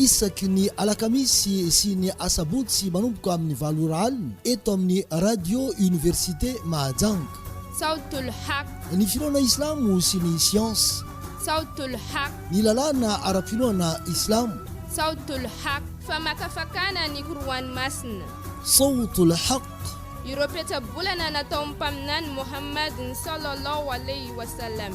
Isaky ny alakamisy sy ny asabotsy manomboka amin'ny valo ora alina eto amin'ny Radio Université Mahajanga. Sawt al-Haq. Ny finoana islamo sy ny siansa. Sawt al-Haq. Ny lalàna ara-pinoana islamo. Sawt al-Haq. Famakafakana ny Qur'an masina. Sawt al-Haq. Ireo petsa-bolana nataon'ny Mpaminany Mohammad, sallallahu alayhi wa sallam.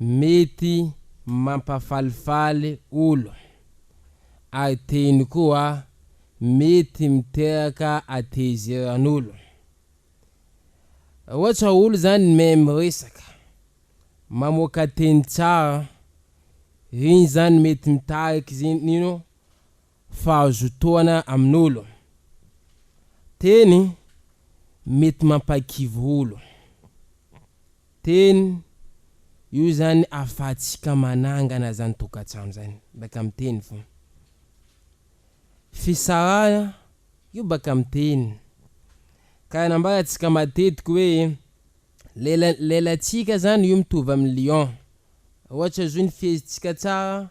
Mety mampafalifaly olo. Ary teny koa mety miteraka atehizeran'olo. Ohatra olo zany mahay miresaka, mamoaka teny tsara, iny zany mety mitariky ino? fahazotoana amin'olo. Teny mety mampahikivy olo. Teny io zany afahatsika manangana zany tokantrano zany baka am teny fona. Fisarahana io baka am teny. Karaha nambarantsika matetiky hoe lela lelatsika zany io mitovy am lion. Ohatra zao ny fihezitsika tsara.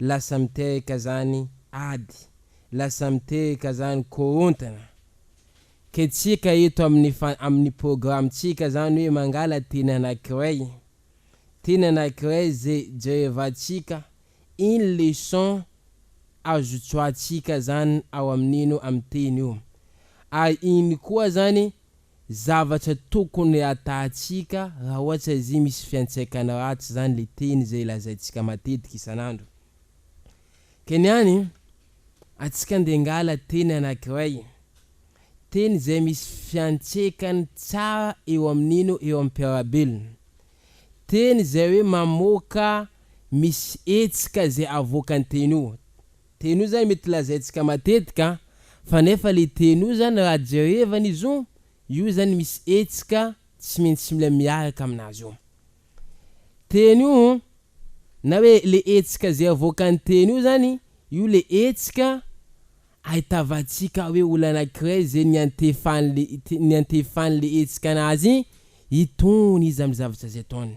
lasa mitehaka zany ady, lasa mitehaka zany korontana. Ke tsika eto amin'ny fa amin'ny programme-tsika zany hoe mangala teny anakiray, teny anakiray ze jerevantsika iny leçon azo tsoatsika zany ao amin'ino amin'ny teny io. Ary iny koa zany zavatra tokony hatahantsika raha ohatra izay misy fiantraikany ratsy izany ilay teny izay lazaintsika matetika isan'andro. Ka ny any antsika dia angala teny anankiray, teny izay misy fiantraikany tsara eo amin'ino eo amin'ny mpiara-belona, teny izay hoe mamoaka misy hetsika izay avoakan'ny teny io, Teny io zany mety lazaintsika matetika an, fa nefa le teny io zany raha jerevana izy io, io zany misy hetsika tsy maintsy mila miaraka aminazy io teny io, na hoe le hetsika zay avoakan'ny teny io zany, io le hetsika ahitavantsika hoe olona anakiray zay niantefan'le niantefan'le hetsika anazy itony izy amin'ny zavatra zay ataony.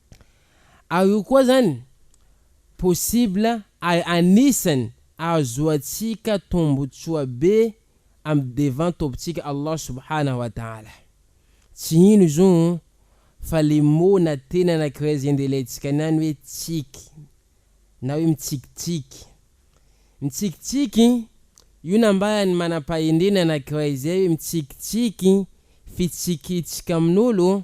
Ary io koa izany possible ary anisany ahazoantsika tombotsoa be amin'ny devant Tompontsika Allah Subhanahu wa Ta'ala. Tsy ino izo fa le mot na teny anankiray izay ndelentsika niany hoe tsiky na hoe mitsikitsiky. Mitsikitsiky io nambaran'ny manam-pahendrena anankiray izay hoe mitsikitsiky fitsikitsika amin'olo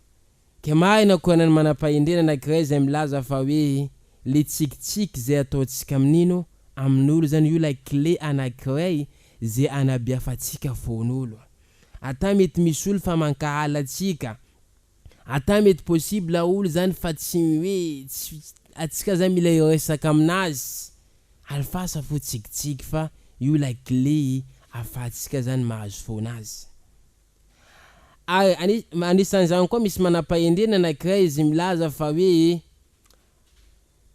Dia marina koa anan'ny manam-pahendrena anankiray izay milaza fa hoe ilay tsikitsiky izay ataontsika amin'ino amin'olo izany io ilay kle anankiray izay anabiafantsika fon'olo. Ata mety misy olo fa mankahala antsika, ata mety possible olo izany fa tsy hoe tsy antsika izany mila hiresaka aminazy, alefasa fo tsikitsiky fa io ilay kle ahafahantsika izany mahazo foana azy. Ary anisan'izany koa misy manam-pahendrena anankiray izay milaza fa hoe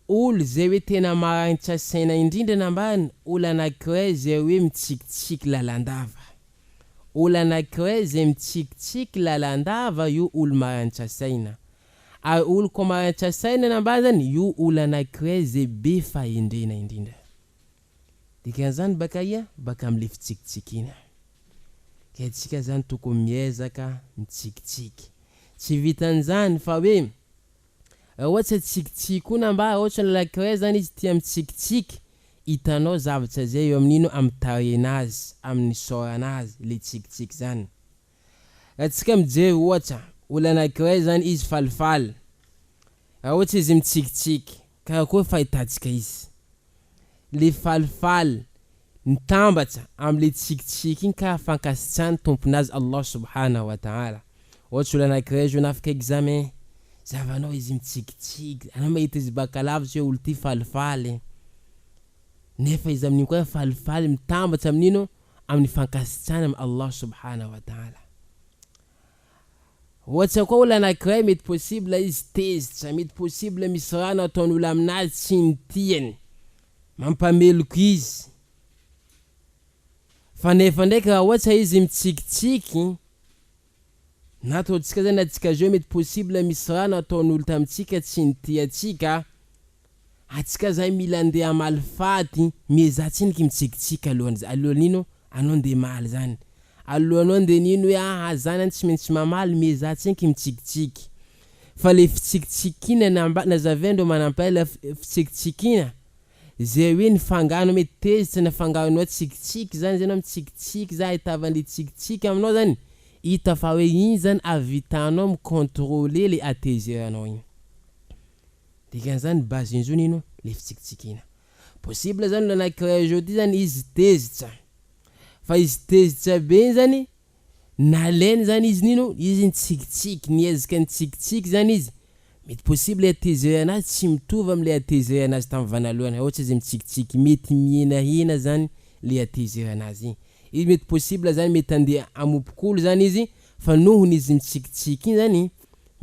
olo izay hoe tena marainitra saina indrindra nambany, olo anankiray izay hoe mitsikitsiky lalandava. Olo anankiray izay mitsikitsiky lalandava io olo marainitra saina. Ary olo koa marainitra saina nambany zany io olo anankiray izay be fahendrena indrindra. Dikan'izany baka aia? Baka amin'ilay fitsikitsikiana. Ka isika izany tokony miezaka mitsikitsiky. Tsy vitan'izany fa hoe raha ohatra tsy atsikitsiky koa na mba raha ohatra olona iray izany izy tia mitsikitsiky, hitanao zavatra izay eo amin'ino? Amin'ny tarehina azy, amin'ny isaorana azy ilay tsikitsiky izany. Raha tsika mijery ohatra olona anankiray zany izy falifaly, raha ohatra izy mitsikitsiky, karakory fahitantsika izy? Le falifaly mitambatra amle tsikitsiky iny kara fankasitrahany tompony azy Allah subhanahu wa ta'ala. Ohatra olona anankiray zao na afaka examen, zahavanao izy mitsikitsiky, anao mahita izy baka lavitra hoe olo ty falifaly, nefa izy amin'iny koa falifaly mitambatra amin'iny oh, amin'ny fankasitrahana amin'i Allah Subhanahu wa Ta'ala. Ohatra koa olona anankiray mety possible izy tezitra, mety possible misy raha nataon'olona aminazy tsy ny tiany, mampameloka izy. Fa nefa ndraiky raha ohatra izy mitsikitsiky, Nataontsika zany atsika zao mety possible misy raha nataon'olo tamintsika tsy nitia atsika, atsika zay mila ndeha hamaly faty, miezaha tsiniky mitsikitsika alohan'zay, alohan'ny ino anao ndeha hamaly zany, alohanao ndeha nino hoe aha zany an tsy maintsy mamaly, miezaha tsiniky mitsikitsiky, fa le fitsikitsikinana mba, nazavain-dreo manampahela, fitsikitsikiana. Zay hoe ny fangano mety tezitra na fanganonao tsikitsiky zany zay anao mitsikitsiky zany ahitavan'le tsikitsiky aminao zany hita fa hoe iny zany avitanao mi controler le ateiser anao iny dikan'zany base injony ino le fitsikitsikiana possible zany olo anakiray zao ty zany izy tezitra fa izy tezitra be iny zany Nalainy zany izy nino izy nitsikitsiky niezaka nitsikitsiky zany izy mety possible atezay anazy tsy mitovy amle atezay anazy tam vanalohany haotsy izy mitsikitsiky mety mihinahina zany le atezay anazy igny izy mety possible zany mety andeha amompokolo zany izy fa nohony izy mitsikitsiky igny zany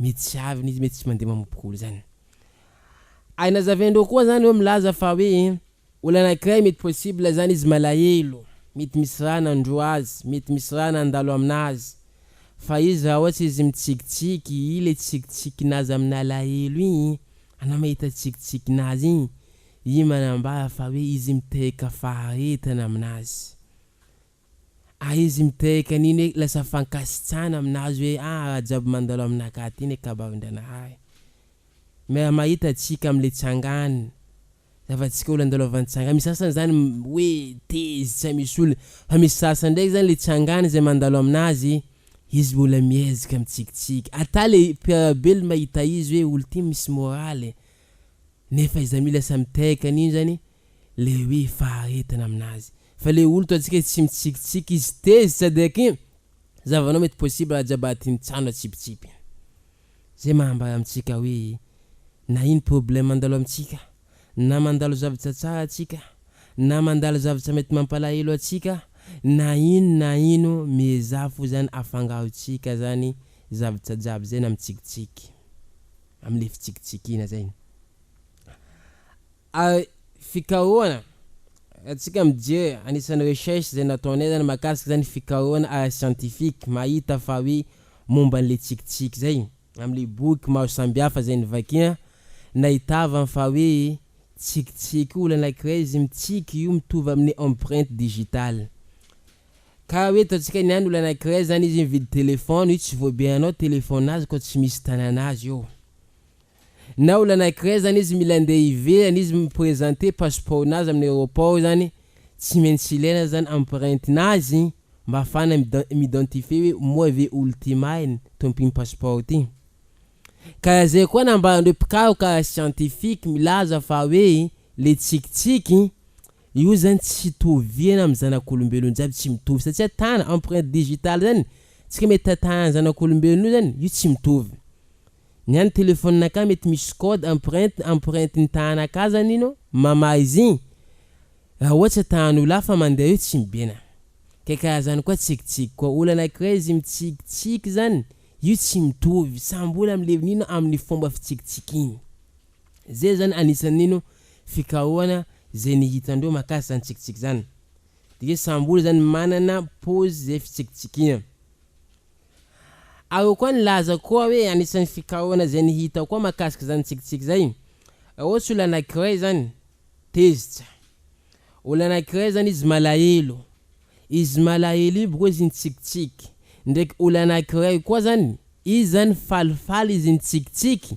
mety tsy aviny izy mety tsy mandeha mamompokolo zany ay nazavaindreo koa zany oe milaza fa oe. Olona anankiray mety possible zany izy malahelo, mety misy raha nandroa azy, mety misy raha nandalo aminazy, fa izy raha ohatra izy mitsikitsiky, i le tsikitsikin'azy amin'alahelo igny, anao mahita tsikitsikin'azy igny, igny manambara fa hoe izy miteraka faharetana aminazy. Ary izy miteraka an'iny hoe lasa fankasitrahana aminazy hoe ah raha jiaby mandalo aminakahy ty ne kabarin-dranahary. Miara-mahita antsika am'le tsangana. Zava-tsika olona andao lavany tsanga, misy sasany zany hoe tezitra tsy misy olona, fa misy sasany ndraiky zany le tsangany zay mandalo aminazy izy mbola miezaka mitsikitsiky, ata le mpiarabelo mahita izy hoe olo ty misy moraly, nefa iza mila sa mitehaka an'iny zany le hoe faharetana aminazy, fa le olo toa tsika tsy mitsikitsiky izy tezitra de kin zavanao mety possible aza jiaby aty mitsano atsipitsipy. Zay maha ambara amintsika hoe na ino problème mandalo amintsika, na mandalo zavatra tsara atsika, na mandalo zavatra mety mampalahelo atsika, na ino na ino miezaha fo zany afangarontsika zany zavatra jiaby zay na mitsikitsiky, amle fitsikitsikiana zay. Ary fikarohana, ratsika mijery anisan'ny recherche izay nataonay izany mahakasika izany fikarohana ara-siantifika mahita fa hoe momba an'ilay tsikitsiky izay amin'ilay boky maro sambihafa izay novakiana nahitavany fa hoe tsikitsiky olona anankiray izy mitsiky io mitovy amin'ny empreinte digitale karaha hoe ataontsika ny any olona anankiray izany izy mividy telephone io tsy voabehanao telephone azy koa tsy misy tanan'azy eo na olona anankiray zany izy mila andeha ivelany izy mi-presenter passeport nazy amin'ny aeroport zany tsy maintsy ilaina zany empreinte nazy mba afahana mi-identifier hoe moa ve olo ty marina to mpino passeport ty ka raha zay koa nambaran'ireo mpikaroka ara scientifique milaza fa hoe le tsikitsiky io zany tsy itoviana amin'ny zanak'olombelona jiaby tsy mitovy satsia tana empreinte digitale zany tsika mety tatanan'ny zanak'olombelona io zany io tsy mitovy Ny any telephone nakah mety misy code empreinte empreinte ny tahana ka zany ino mamaha izigny raha ohatsa tahan'olo hafa mandeha eo tsy mibena kay karaha zany koa tsikitsiky koa olo anakiray izy mitsikitsiky zany io tsy mitovy samby olo amleviny ino aminy fomba fitsikitsikiny zay zany anisan'ny ino fikarohana zay nihitandreo makasy zany tsikitsiky zany de samby olo zany manana pose zay fitsikitsikina. Aho koa nilaza koa hoe anisan'ny fikarohana izay ny hitako koa mahakasika izany tsikitsiky izay, raha ohatsy olona anankiray zany tezitra, olona anankiray zany izy malahelo, izy malahelo io boko izy mitsikitsiky, ndraiky olona anankiray koa zany izy zany falifaly izy mitsikitsiky,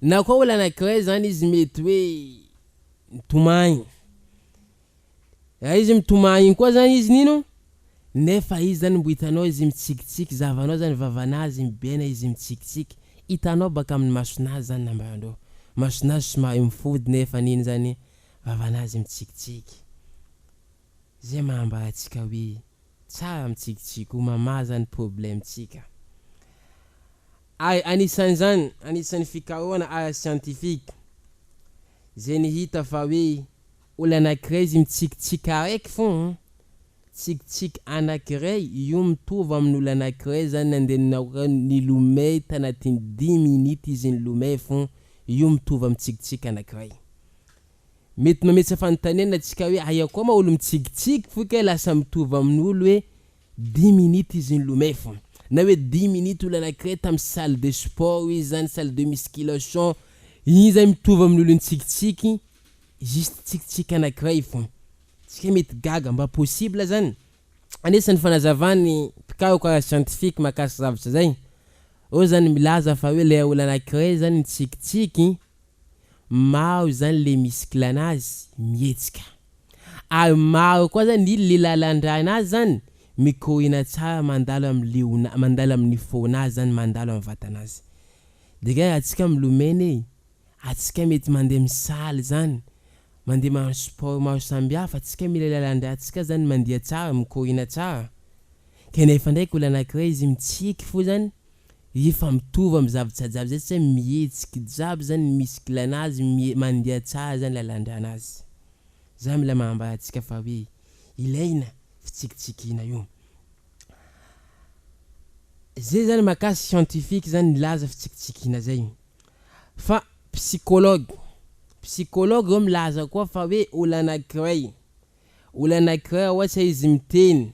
Na koa olona anankiray izany izy mety hoe mitomany. Raha izy mitomany iny koa izany izy nino, nefa izy izany mbo hitanao izy mitsikitsiky, zahavanao izany vavanazy mibaina izy mitsikitsiky, hitanao baka amin'ny masonazy izany nambaran-dreo, masonazy somary mifody nefa nino izany vavanazy mitsikitsiky. Izay maha ambara antsika hoe. Tsara mitsikitsiky ho mamaza ny problème tsika. Ary anisan'izany, anisan'ny fikarohana ara-siantifika, zay nihita fa hoe olana ankiray izy mitsikitsiky araiky fona an, tsikitsiky anakiray io mitovy amin'ny olana ankiray zany nandeha ninaoka nilomay tanatin'ny dimy minutes izy nilomay fona io mitovy amin'ny tsikitsiky anakiray. Mety mametsa fanontaniana antsika hoe aia koa ma olo mitsikitsiky fo kay lasa mitovy amin'ny olo hoe dimy minutes izy nilomay fo na hoe dimy minutes olo anakiray tamin'ny salle de sport izy zany salle de musculation iny zany mitovy amin'ny olo nitsikitsiky juste tsikitsiky anakiray fo tsika mety gaga mba possible zany? Anisan'ny fanazavan'ny mpikaroka ara-siantifika mahakasika zavatra zay, ao zany milaza fa hoe ilay olo anakiray zany nitsikitsiky, maro izany le misy clan azy mihetsika ary maro koa zany i le lalandràna azy zany mikoriana tsara mandalo am leona mandalo amin'ny fonazy zany mandalo am vatanazy de kay raha tsika milomena e atsika mety mandeha misaly zany mandeha manao sport maro sambihafa tsika mila lalandràtsika zany mandia tsara mikoriana tsara kanefa ndraiky olo anakirey izy mitsiky fo zany Efa mitovy amin'ny zavatra jiaby zay satria mihetsiky jiaby zany ny muscle anazy, mie- mandeha tsara zany lalan-dranazy. Zany mila manambara antsika fa hoe ilaina fitsikitsikiana io. Zay zany makasy scientifique zany nilaza fitsikitsikiana zay. Fa psychologue, psychologue zao milaza koa fa hoe olana anankiray, olana anankiray ohatra izy miteny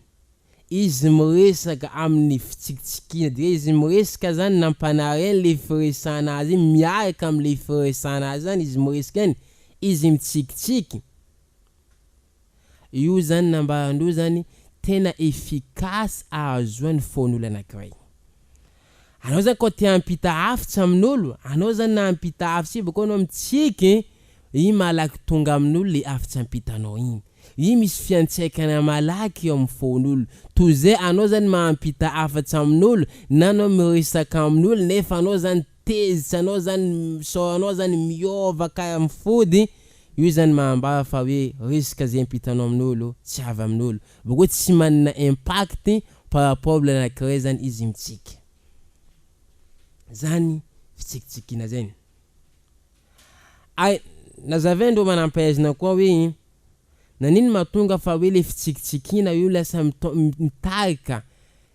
Izy miresaka amin'ny fitsikitsikiana dia izy miresaka zany nampanary an'ilay firesahana azy iny miaraka amin'ilay firesahana azy zany izy miresaka iny, izy mitsikitsiky. Io zany nambaran-droa zany tena efficace ahazoany foan'olona anankiray. anao zany ko te hampita hafitsy amin'olo anao zany na hampita hafitsy io bakeo anao mitsiky iny malaky tonga amin'olo le hafitsy ampitanao iny iny misy fiantsaikana malaky eo amin'ny fon'olo toy zay anao zany mampita hafatsy amin'olo na anao miresaka amin'olo nefa anao zany tezitra anao zany misaora anao zany miova ka mifody io zany mahambara fa hoe resaka zay ampitanao amin'olo tsy avy amin'olo bakeo tsy manana impact Par rapport olona anakiray zany izy mitsiky zany fitsikitsikiana zay ny ary nazavain ndreo manampahaizina koa hoe nanino mahatonga fa hoe le fitsikitsikiana io lasa mitarika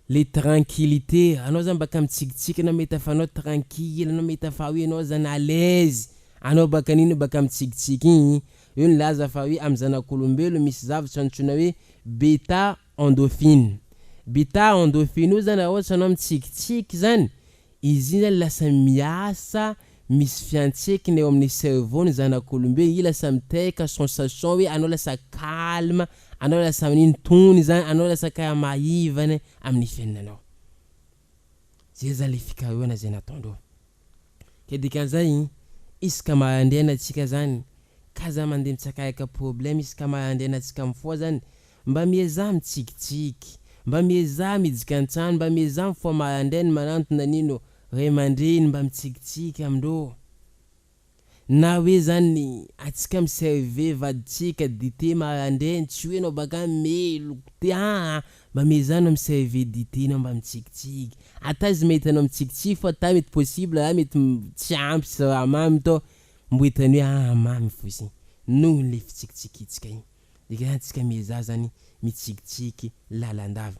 le tranquillite anao zany baka mitsikitsiky anao mahita fa anao tranquille anao mahita fa hoe anao zany à l'aise anao baka an'iny baka mitsikitsiky iny io nilaza fa hoe amin'ny zanak'olombelo misy zavatra antsoina hoe beta Endorphine. Bita endorphine io zany raha ohatra anao mitsikitsiky zany, izy iny zany lasa miasa misy fiantsehikina eo amin'ny cerveau ny zanak'olombelo, io lasa miteraka sensation hoe anao lasa calme, anao lasa manino tony zany, anao lasa karaha maivana amin'ny fiainanao. Zay zany le fikarohana zay nataondreo. Ka dikan'izay, isaka maraindraina tsika zany ka za mandeha mitsakayaka problème isaka maraindraina tsika mifoha zany, mba miezaha mitsikitsiky, mba miezaha midika an-trano, mba miezaha mifoha maraindrainy manantona an'ino ray aman-dreny mba mitsikitsiky amindreo. Na hoe zany atsika mi serve vaditsika dite marandraigny tsy hoe nao baka any melo goûter aa mba mezano mi serve dite nao mba mitsikitsiky ata izy mety anao mitsikitsiky fa ata mety possible ra mety tsy ampy siramamy tô mbo hitany hoe aa mamy fotsiny noho le fitsikitsikitsika igny dikany atsika miezaha zany mitsikitsiky lalandava.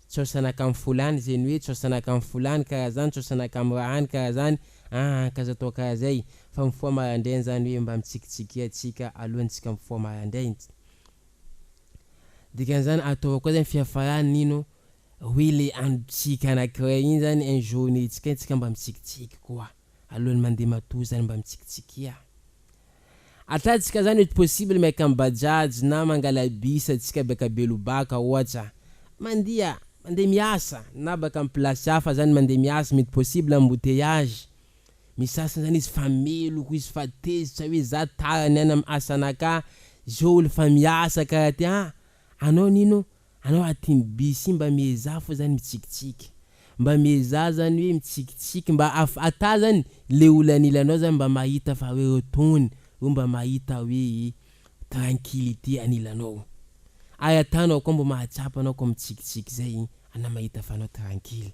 Tsaosanaka am folany zeny hoe tsaosanaka am folany karaha zany tsaosanaka am rahany karaha zany aa ka aza atao karaha zay fa mifoha marandraigny zany hoe mba mitsikitsikia atsika alohany tsika mifoha marandraigny dikany zany ataova koa zany fiafarany nino hoe le andro tsika anakiray igny zany un journée tsika tsika mba mitsikitsiky koa. alohan'ny mandeha matoa zany mba mitsikitsiky a! Atatsika zany mety possible miaika am bajaj na mangala bus atsika baka belobaka ohatra mandia mandeha miasa na baka am place hafa zany mandeha miasa mety possible embouteillage misy sasany zany izy fa meloka izy fa tezitra hoe za tara niany am asanakah zao olo fa miasa karaha ty aa anao nino Anao ary tim Bsi mba miezaha fo zany mitsikitsiky mba miezaha zany hoe mitsikitsiky mba af ata zany le olo anilanao zany mba mahita fa hoe eo tony eo mba mahita hoe tranquillite anilanao ary atanao koa mba mahatsapa anao koa mitsikitsiky zay ana mahita fa anao tranquille.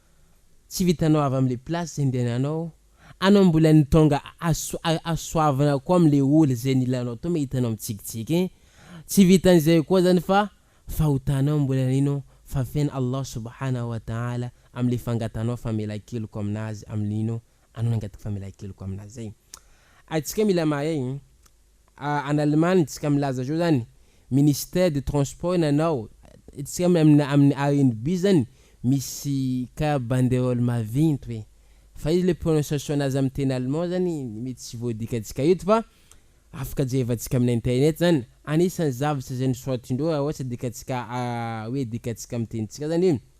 Tsy vitanao avy amle place zay ndehananao anao mbola ny tonga asoavina koa amle oul zay nilanao tao mahita anao mitsikitsiky hein tsy vitan'izay koa zany fa fahotanao mbola nino fa fen Allah subhana wa taala amle fangatanao famelankeloka aminazy amle nino anao nangataky famelankeloka aminazy zay atsika mila mahay Any Allemagne tsika milaza zao zany ministère de transport nanao tsika aminy aminy arnb zany misy karaha banderole mavinty hoe fa izy le prononciation nazy aminy teny allemand zany mety tsy voadika tsika eto fa afaka jerevantsika aminy internet zany anisany zavatra zay nisoratindreo raha ohatsa dika tsika hoe dika tsika aminy tenitsika zany hoe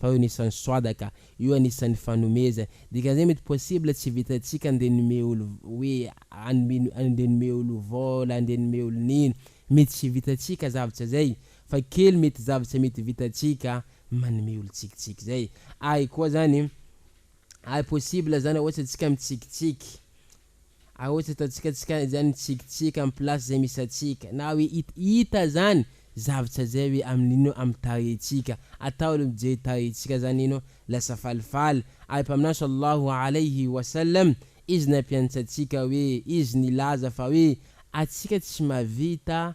fa io anisan'ny soada ka, io anisan'ny fanomezana, dikan'izay mety possible tsy vitantsika andeha nomey olo hoe anome andeha nomey olo vola andeha nomey olo nino, mety tsy vitantsika zavtra zay, fa kely mety zavtra mety vitantsika manome olo tsikitsiky zay, ay koa zany ay possible zany ohatra tsika mitsikitsiky, Ah ohatry ataontsika tsika izany mitsikitsiky am place zay misy antsika na hoe it ita zany zavtra zay hoe am ino am tarehintsika atao aloha mijery tarehintsika zany ino lasa falifaly ary mpaminany sallahu alaihi wa sallam izy nampianatsa antsika hoe izy nilaza fa hoe atsika tsy mahavita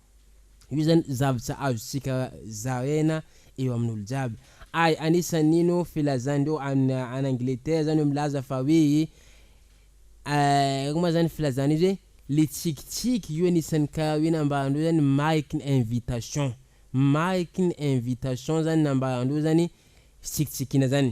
Io zany zavtra azontsika zaraina eo amin'olo jiaby. Ary anisan'ino filazandreo any any Angleterre zany milaza fa hoe ino ma zany filazana izy hoe le tsikitsiky io anisan'ny karaha hoe nambarandreo zany mariky ny invitation, mariky ny invitation zany nambarandreo zany fitsikitsikiana zany.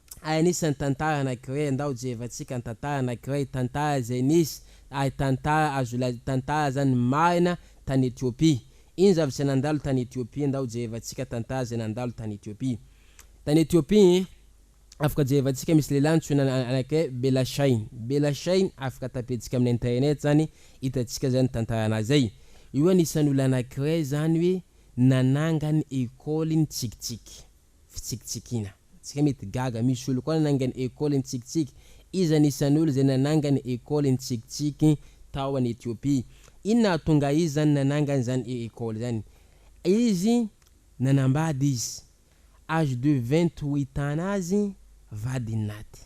Hay anisan'ny tantara anankiray andao jerevantsika ny tantara anankiray tantara izay nisy ary tantara azo lazaina tantara zany marina tany Ethiopie iny zavatra izay nandalo tany Ethiopie andao jerevantsika tantara izay nandalo tany Ethiopie tany Ethiopie iny afaka jerevantsika misy lehilahy antsoina anankiray Bella Shine Bella Shine afaka tapetsika amin'ny internet zany hitantsika zany tantaranazy zay io anisan'ny olona anankiray zany hoe nanangany école ntsikitsiky fitsikitsikiana. Tsika mety gaga, misy olo koa nanangany école nitsikitsiky. Iza ny isan'olo izay nanangany école nitsikitsiky tao any Ethiopie? Inona hahatonga azy izany nanangany izany école izany? Izy nanambady izy, âge de vingt huit ans nazy vadin'aty.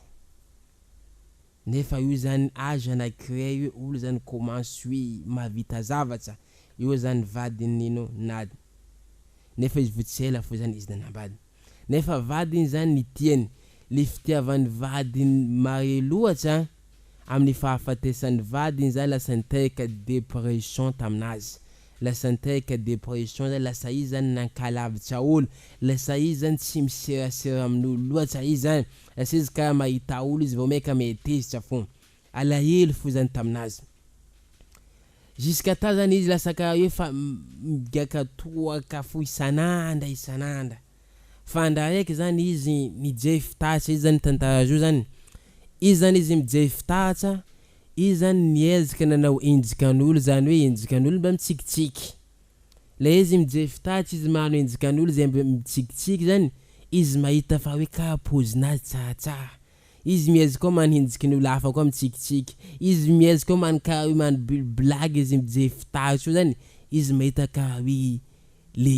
Nefa io zany age ana cree io olo zany comment sui mahavita zavatsa io zany vadiny nino nad nefa izy vo tsy ela fo zany izy nanambady nefa vadiny zany nitiany le fitiavany vadiny mare loatsa aminy fahafatesany vadiny zany lasa niteraka depression taminazy lasa niteraka depression zany lasa izy zany nankalavitsa olo lasa izy zany tsy miserasera aminolo loatsa izy zany Lasa izy ka mahita olo izy vao maika mihetezitra fon. Alahelo fo zany taminazy. Jusqu'à temps zany izy lasa ka eo fa migaka toaka fo isan'andra isan'andra. Fa ndra raiky zany izy mijery fitaratra izy zany tantara zao zany. Izy zany izy mijery fitaratra, izy zany niezaka nanao enjikan'olo zany hoe enjikan'olo mba mitsikitsiky. Ilay izy mijery tady tsy izy manao enjikan'olo izay mb mitsikitsiky zany, izy mahita fa hoe kara pozinazy tsaratsara, izy miezk koa manenjiky ny olo hafa koa mitsikitsiky, izy miezk koa man kara hoe man bl blagy izy mijery fitary soa zany, izy mahita kara hoe le.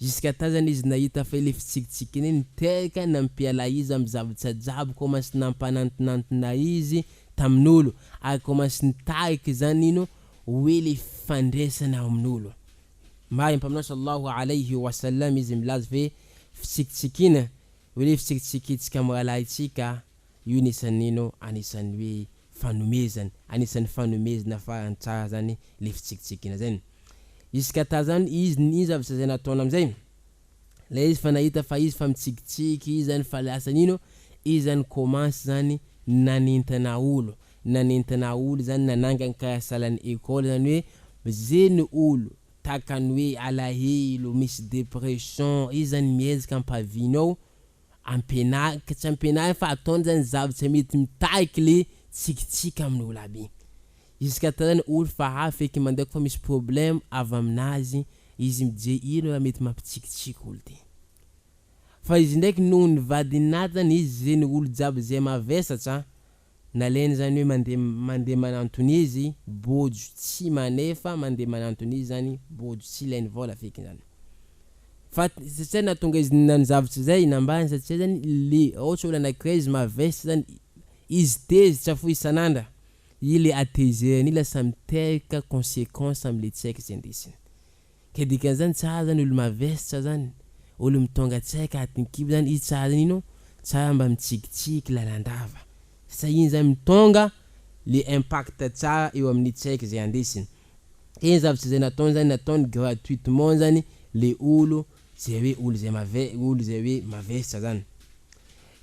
Jusqu'à tazana izy nahita fa ilay fitsikitsiky iny niteraka nampiala izy amin'ny zavatra jiaby commence nampanantinantina izy tamin'olo ary commence nitarika izany ino hoe ilay fandraisana ao amin'olo. Mahay ny Mpaminany Sallallahu Alayhi wa Sallam izy milaza hoe fitsikitsikiana hoe ilay fitsikitsikintsika amin'ny rahalahintsika Io ny isan'ny ino anisan'ny hoe fanomezany anisan'ny fanomezana farany tsara zany le fitsikitsikina zay. Jusqu'à ta zany izy ny ino zavatra zay nataony amzay le izy fa nahita fa izy fa mitsikitsiky izy zany fa lasa ny ino izy zany commence zany nanintona olo nanintona olo zany nanangany karaha salan'ny école zany hoe ze ny olo takany hoe alahelo misy depression izy zany miezaka ampavino ao Ampianariko, tsy ampianariko fa ataony zany zavatra mety mitarika le tsikitsiky amin'ny olo aby. Juska tarainy olo fa hafa eky mandeha koa fa misy problème avy aminazy izy mijery ino raha mety mampitsikitsiky olo ty. Fa izy ndraiky noho ny vadinatany izy ze ny olo jiaby ze mavesatra. Nalainy izany hoe mande mande manantony izy bojo tsy manefa mande manantony izy zany bojo tsy ilainy vola feky zany fa satria nahatonga izy nany zavatra izay nambany satria zany le ohatra olona anakiray izy mavesatra zany izy tezitra fo isan'andra i le atezerany io lasa miteraka consequence amle tsaiky zay ndesiny. Ka dikany zany tsara zany olo mavestra zany olo mitônga tseka atin kibo zany izy tsara zany ino tsara mba mitsikitsiky lalandrava satria iny zany mitônga le impact tsara eo aminy tseka zay andesiny ka iny zavatra zay nataony zany nataony gratuitement zany le olo zay hoe olo zay mave olo zay hoe mavestra zany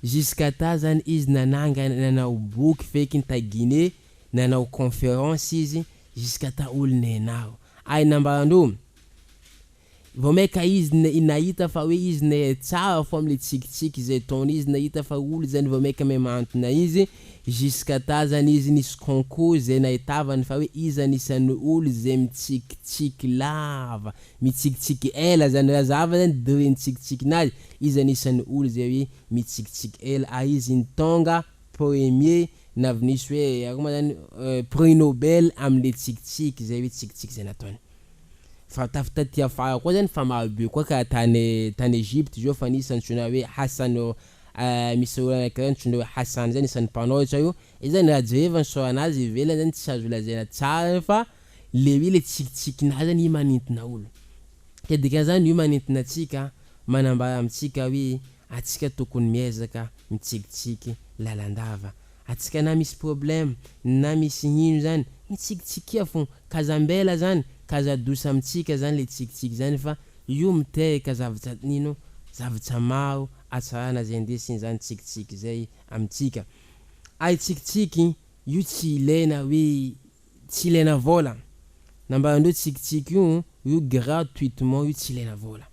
jusqu'à ta zany izy nanangana nanao boky feky tagine nanao conference izy jusqu'à ta olo nenaro Ay nambarandro vao maika izy ne nahita fa hoe izy ne tsara fo amle tsikitsiky zay ataony izy nahita fa olo zany vao maika me mantona izy jusqu'à ta zany izy nisy concours zay nahitavany fa hoe izy anisany olo zay mitsikitsiky lava mitsikitsiky ela zany ra zava zany degré ny tsikitsikin'azy izy anisany olo zay hoe mitsikitsiky ela ary izy ny tonga Premier na vinisy hoe akô ma zany prix Nobel amle tsikitsiky zay hoe tsikitsiky zay nataony fa taf taty afara koa zany fa maro be koa ka tany tany Egypte zao fa nisy antsoina hoe Hassan misy olo anakiray antsoina hoe Hassan zay anisany mpanao io tsao io zany raha jereva ny sort nazy ivelany zany tsy azo lazaina tsara zany fa le hoe le tsikitsiky nazy zany io manintona olo ka dikanzany io manintona atsika manambara amitsika hoe Atsika tokony miezaka mitsikitsiky lalandava atsika na misy problème na misy ino zany mitsikitsikia fon kaza mbela zany kaza douce amitsika zany le tsikitsiky zany fa io miteheka zavtsa ino zavtsa maro atsarana zay ndesiny zany tsikitsiky zay amitsika ary tsikitsiky io tsy ilaina hoe tsy ilaina vola nambarandreo tsikitsiky io io gratuitement io tsy ilaina vola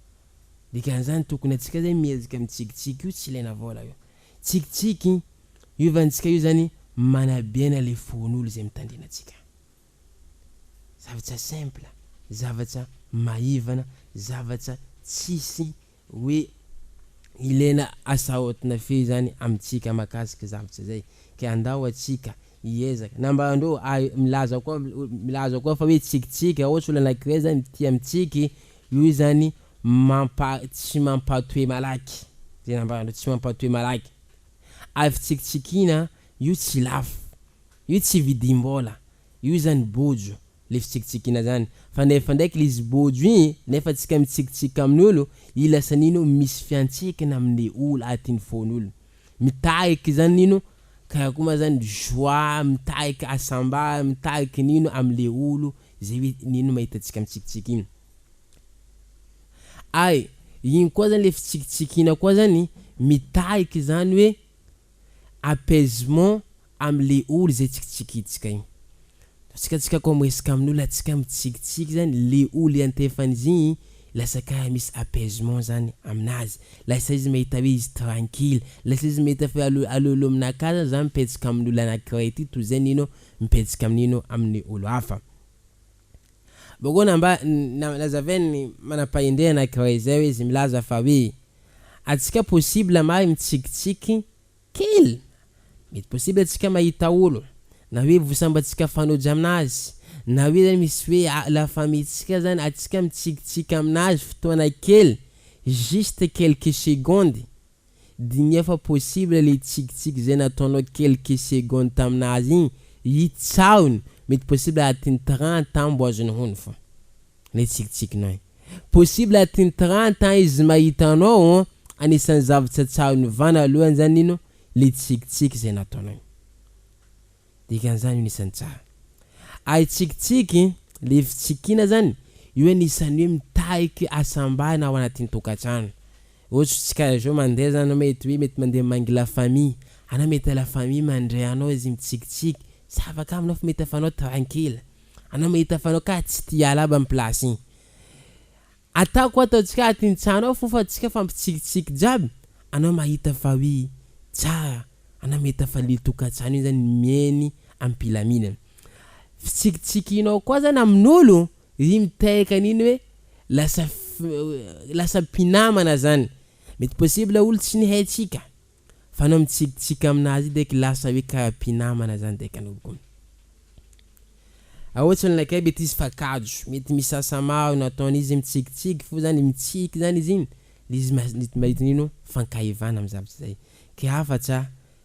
Dikan'izany tokony antsika zany mihezika mitsikitsiky io tsy ilaina vola io. Tsikitsiky hiovantsika io zany manabena le fon'olo zay mitandrina antsika. Zavatsa simple, zavatsa maivana, zavatsa tsisy hoe ilaina asaotina fey zany amintsika makasika zavatsa zay. Ke andao atsika hiezaka na mba ndrô milaza koa milaza koa fa hoe tsikitsiky raha ôhatra olo anankiray zany tia mitsiky, Noho izany mampa tsy mampatoe malaky, zay nambaranareo tsy mampatoe malaky, ary fitsikitsikiana io tsy lafo, io tsy vidim-bola, io zany bojo le fitsikitsikiana zany, fa nefa ndraiky le izy bojo igny nefa tsika mitsikitsiky amin'olo i lasa nino misy fiantsehkina amle olo atiny fon'olo, mitariky zany nino karakoa ma zany joie mitariky asambara mitariky nino amle olo Zay hoe nino mahita tsika mitsikitsiky iny ay iny koa zany le fitsikitsiky ina koa zany mitaiky zany hoe apaisement amle olo zay tsikitsikitsika iny tsika tsika koa miresaka aminolo atsika mitsikitsiky zany le olo iantefanizy igny lasa kara misy apaisement zany aminazy lasa izy mahita hoe izy trankily lasa izy mahita fa alo alo aminakahy zany za mipetsaka aminolo anakiray ty toy zay nino mipetsika amin'ino amin'ny olo hafa. Bogona mba nazaven'ny manam-pahendrena anankiray izay hoe izy milaza fa hoe atsika possible mahay mitsikitsiky kely, mety possible atsika mahita olo na hoe vosambatsika fanoja aminazy na hoe zany misy hoe la famille tsika zany atsika mitsikitsiky aminazy fotoana kely juste quelques secondes, Diniho fa possible le tsikitsiky zay nataonao quelques secondes taminazy igny hitsahony mety possible atin'ny trente ans mbo azony hono fô le tsikitsikinao igny possible atin'ny trente ans izy mahita anao ô anisan'ny zavatra tsahaony vanalohany zany ino le tsikitsiky zay nataonao igny dikan'izany io anisan'ny tsaha ary tsikitsiky le fitsikiana zany io anisan'ny hoe mitahiky hasambarana ao anatin'ny tokantrano. Otso tsy kara zao mandeha za anao mety hoe mety mandeha mangy la famille anao mety la famille mandre anao izy mitsikitsiky tsy afaka aminao fa mety afanao tranquille anao mety afanao ka tsy tia hiala aby am place igny ataoko ataontsika ah ty ny tsanao fo fa tsika fa mitsikitsiky jiaby anao mahita fa oui tsara anao mety afa le tokatsano igny zany mieny am pilaminana fitsikitsikinao koa zany amin'olo Izy mitaiaka an'iny hoe lasa lasa mpinamana zany. Mety possible olo tsy nihaintsika fa anao mitsikitsiky aminazy io dek lasa hoe karaha mpinamana zany dek anao ko. Aoa tsy olona kay mety izy fa kajo, mety misy asa maro nataony izy mitsikitsiky fo zany mitsiky zany izy iny le izy mahita an'iny o fankahivana am zavatra zay. Kay hafa tsa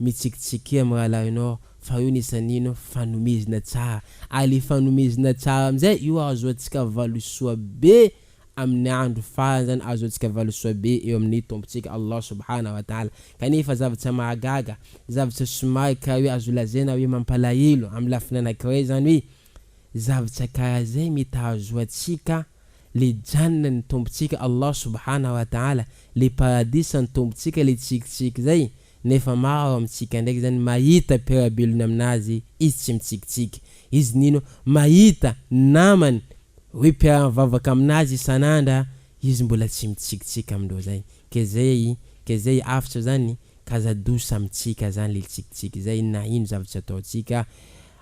Mitsikitsikia amin'ny rahalahinao fa io nis an'ino fa nomezina tsara. Ary le fanomezana tsara amin'izay, io ahazoantsika valisoa be amin'ny andro farany zany, ahazoantsika valisoa be eo amin'ny Tompontsika Allah Subhana wa Ta'ala. Kanefa zavatra mahagaga, zavatra somary karaha hoe azo lazaina hoe mampalahelo amin'ny lafiny anankiray zany hoe, zavatra karaha zay mety hahazoantsika le Jannah ny Tompontsika Allah Subhana wa Ta'ala, le Paradisa ny Tompontsika le tsikitsiky zay, nefa maro amintsika ndraiky zany mahita mpiara-belona aminazy izy tsy mitsikitsiky, izy nino mahita namany hoe mpiara-mivavaka aminazy isan'andra izy mbola tsy mitsikitsiky amindreo zay, ke zay ke zay afitra zany kaza dosa amintsika zany le tsikitsiky zay na ino zavatra ataontsika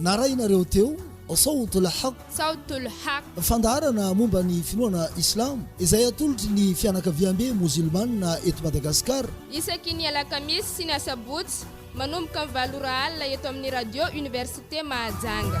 Narahinareo teo Sawt al-Haq, Sawt al-Haq, fandaharana momba ny finoana Islam izay atolotry ny fianakaviambe mozilmana eto Madagasikara. Isaky ny alakamisy sy ny asabotsy manomboka ny valo ora alina eto amin'ny Radio Université Mahajanga.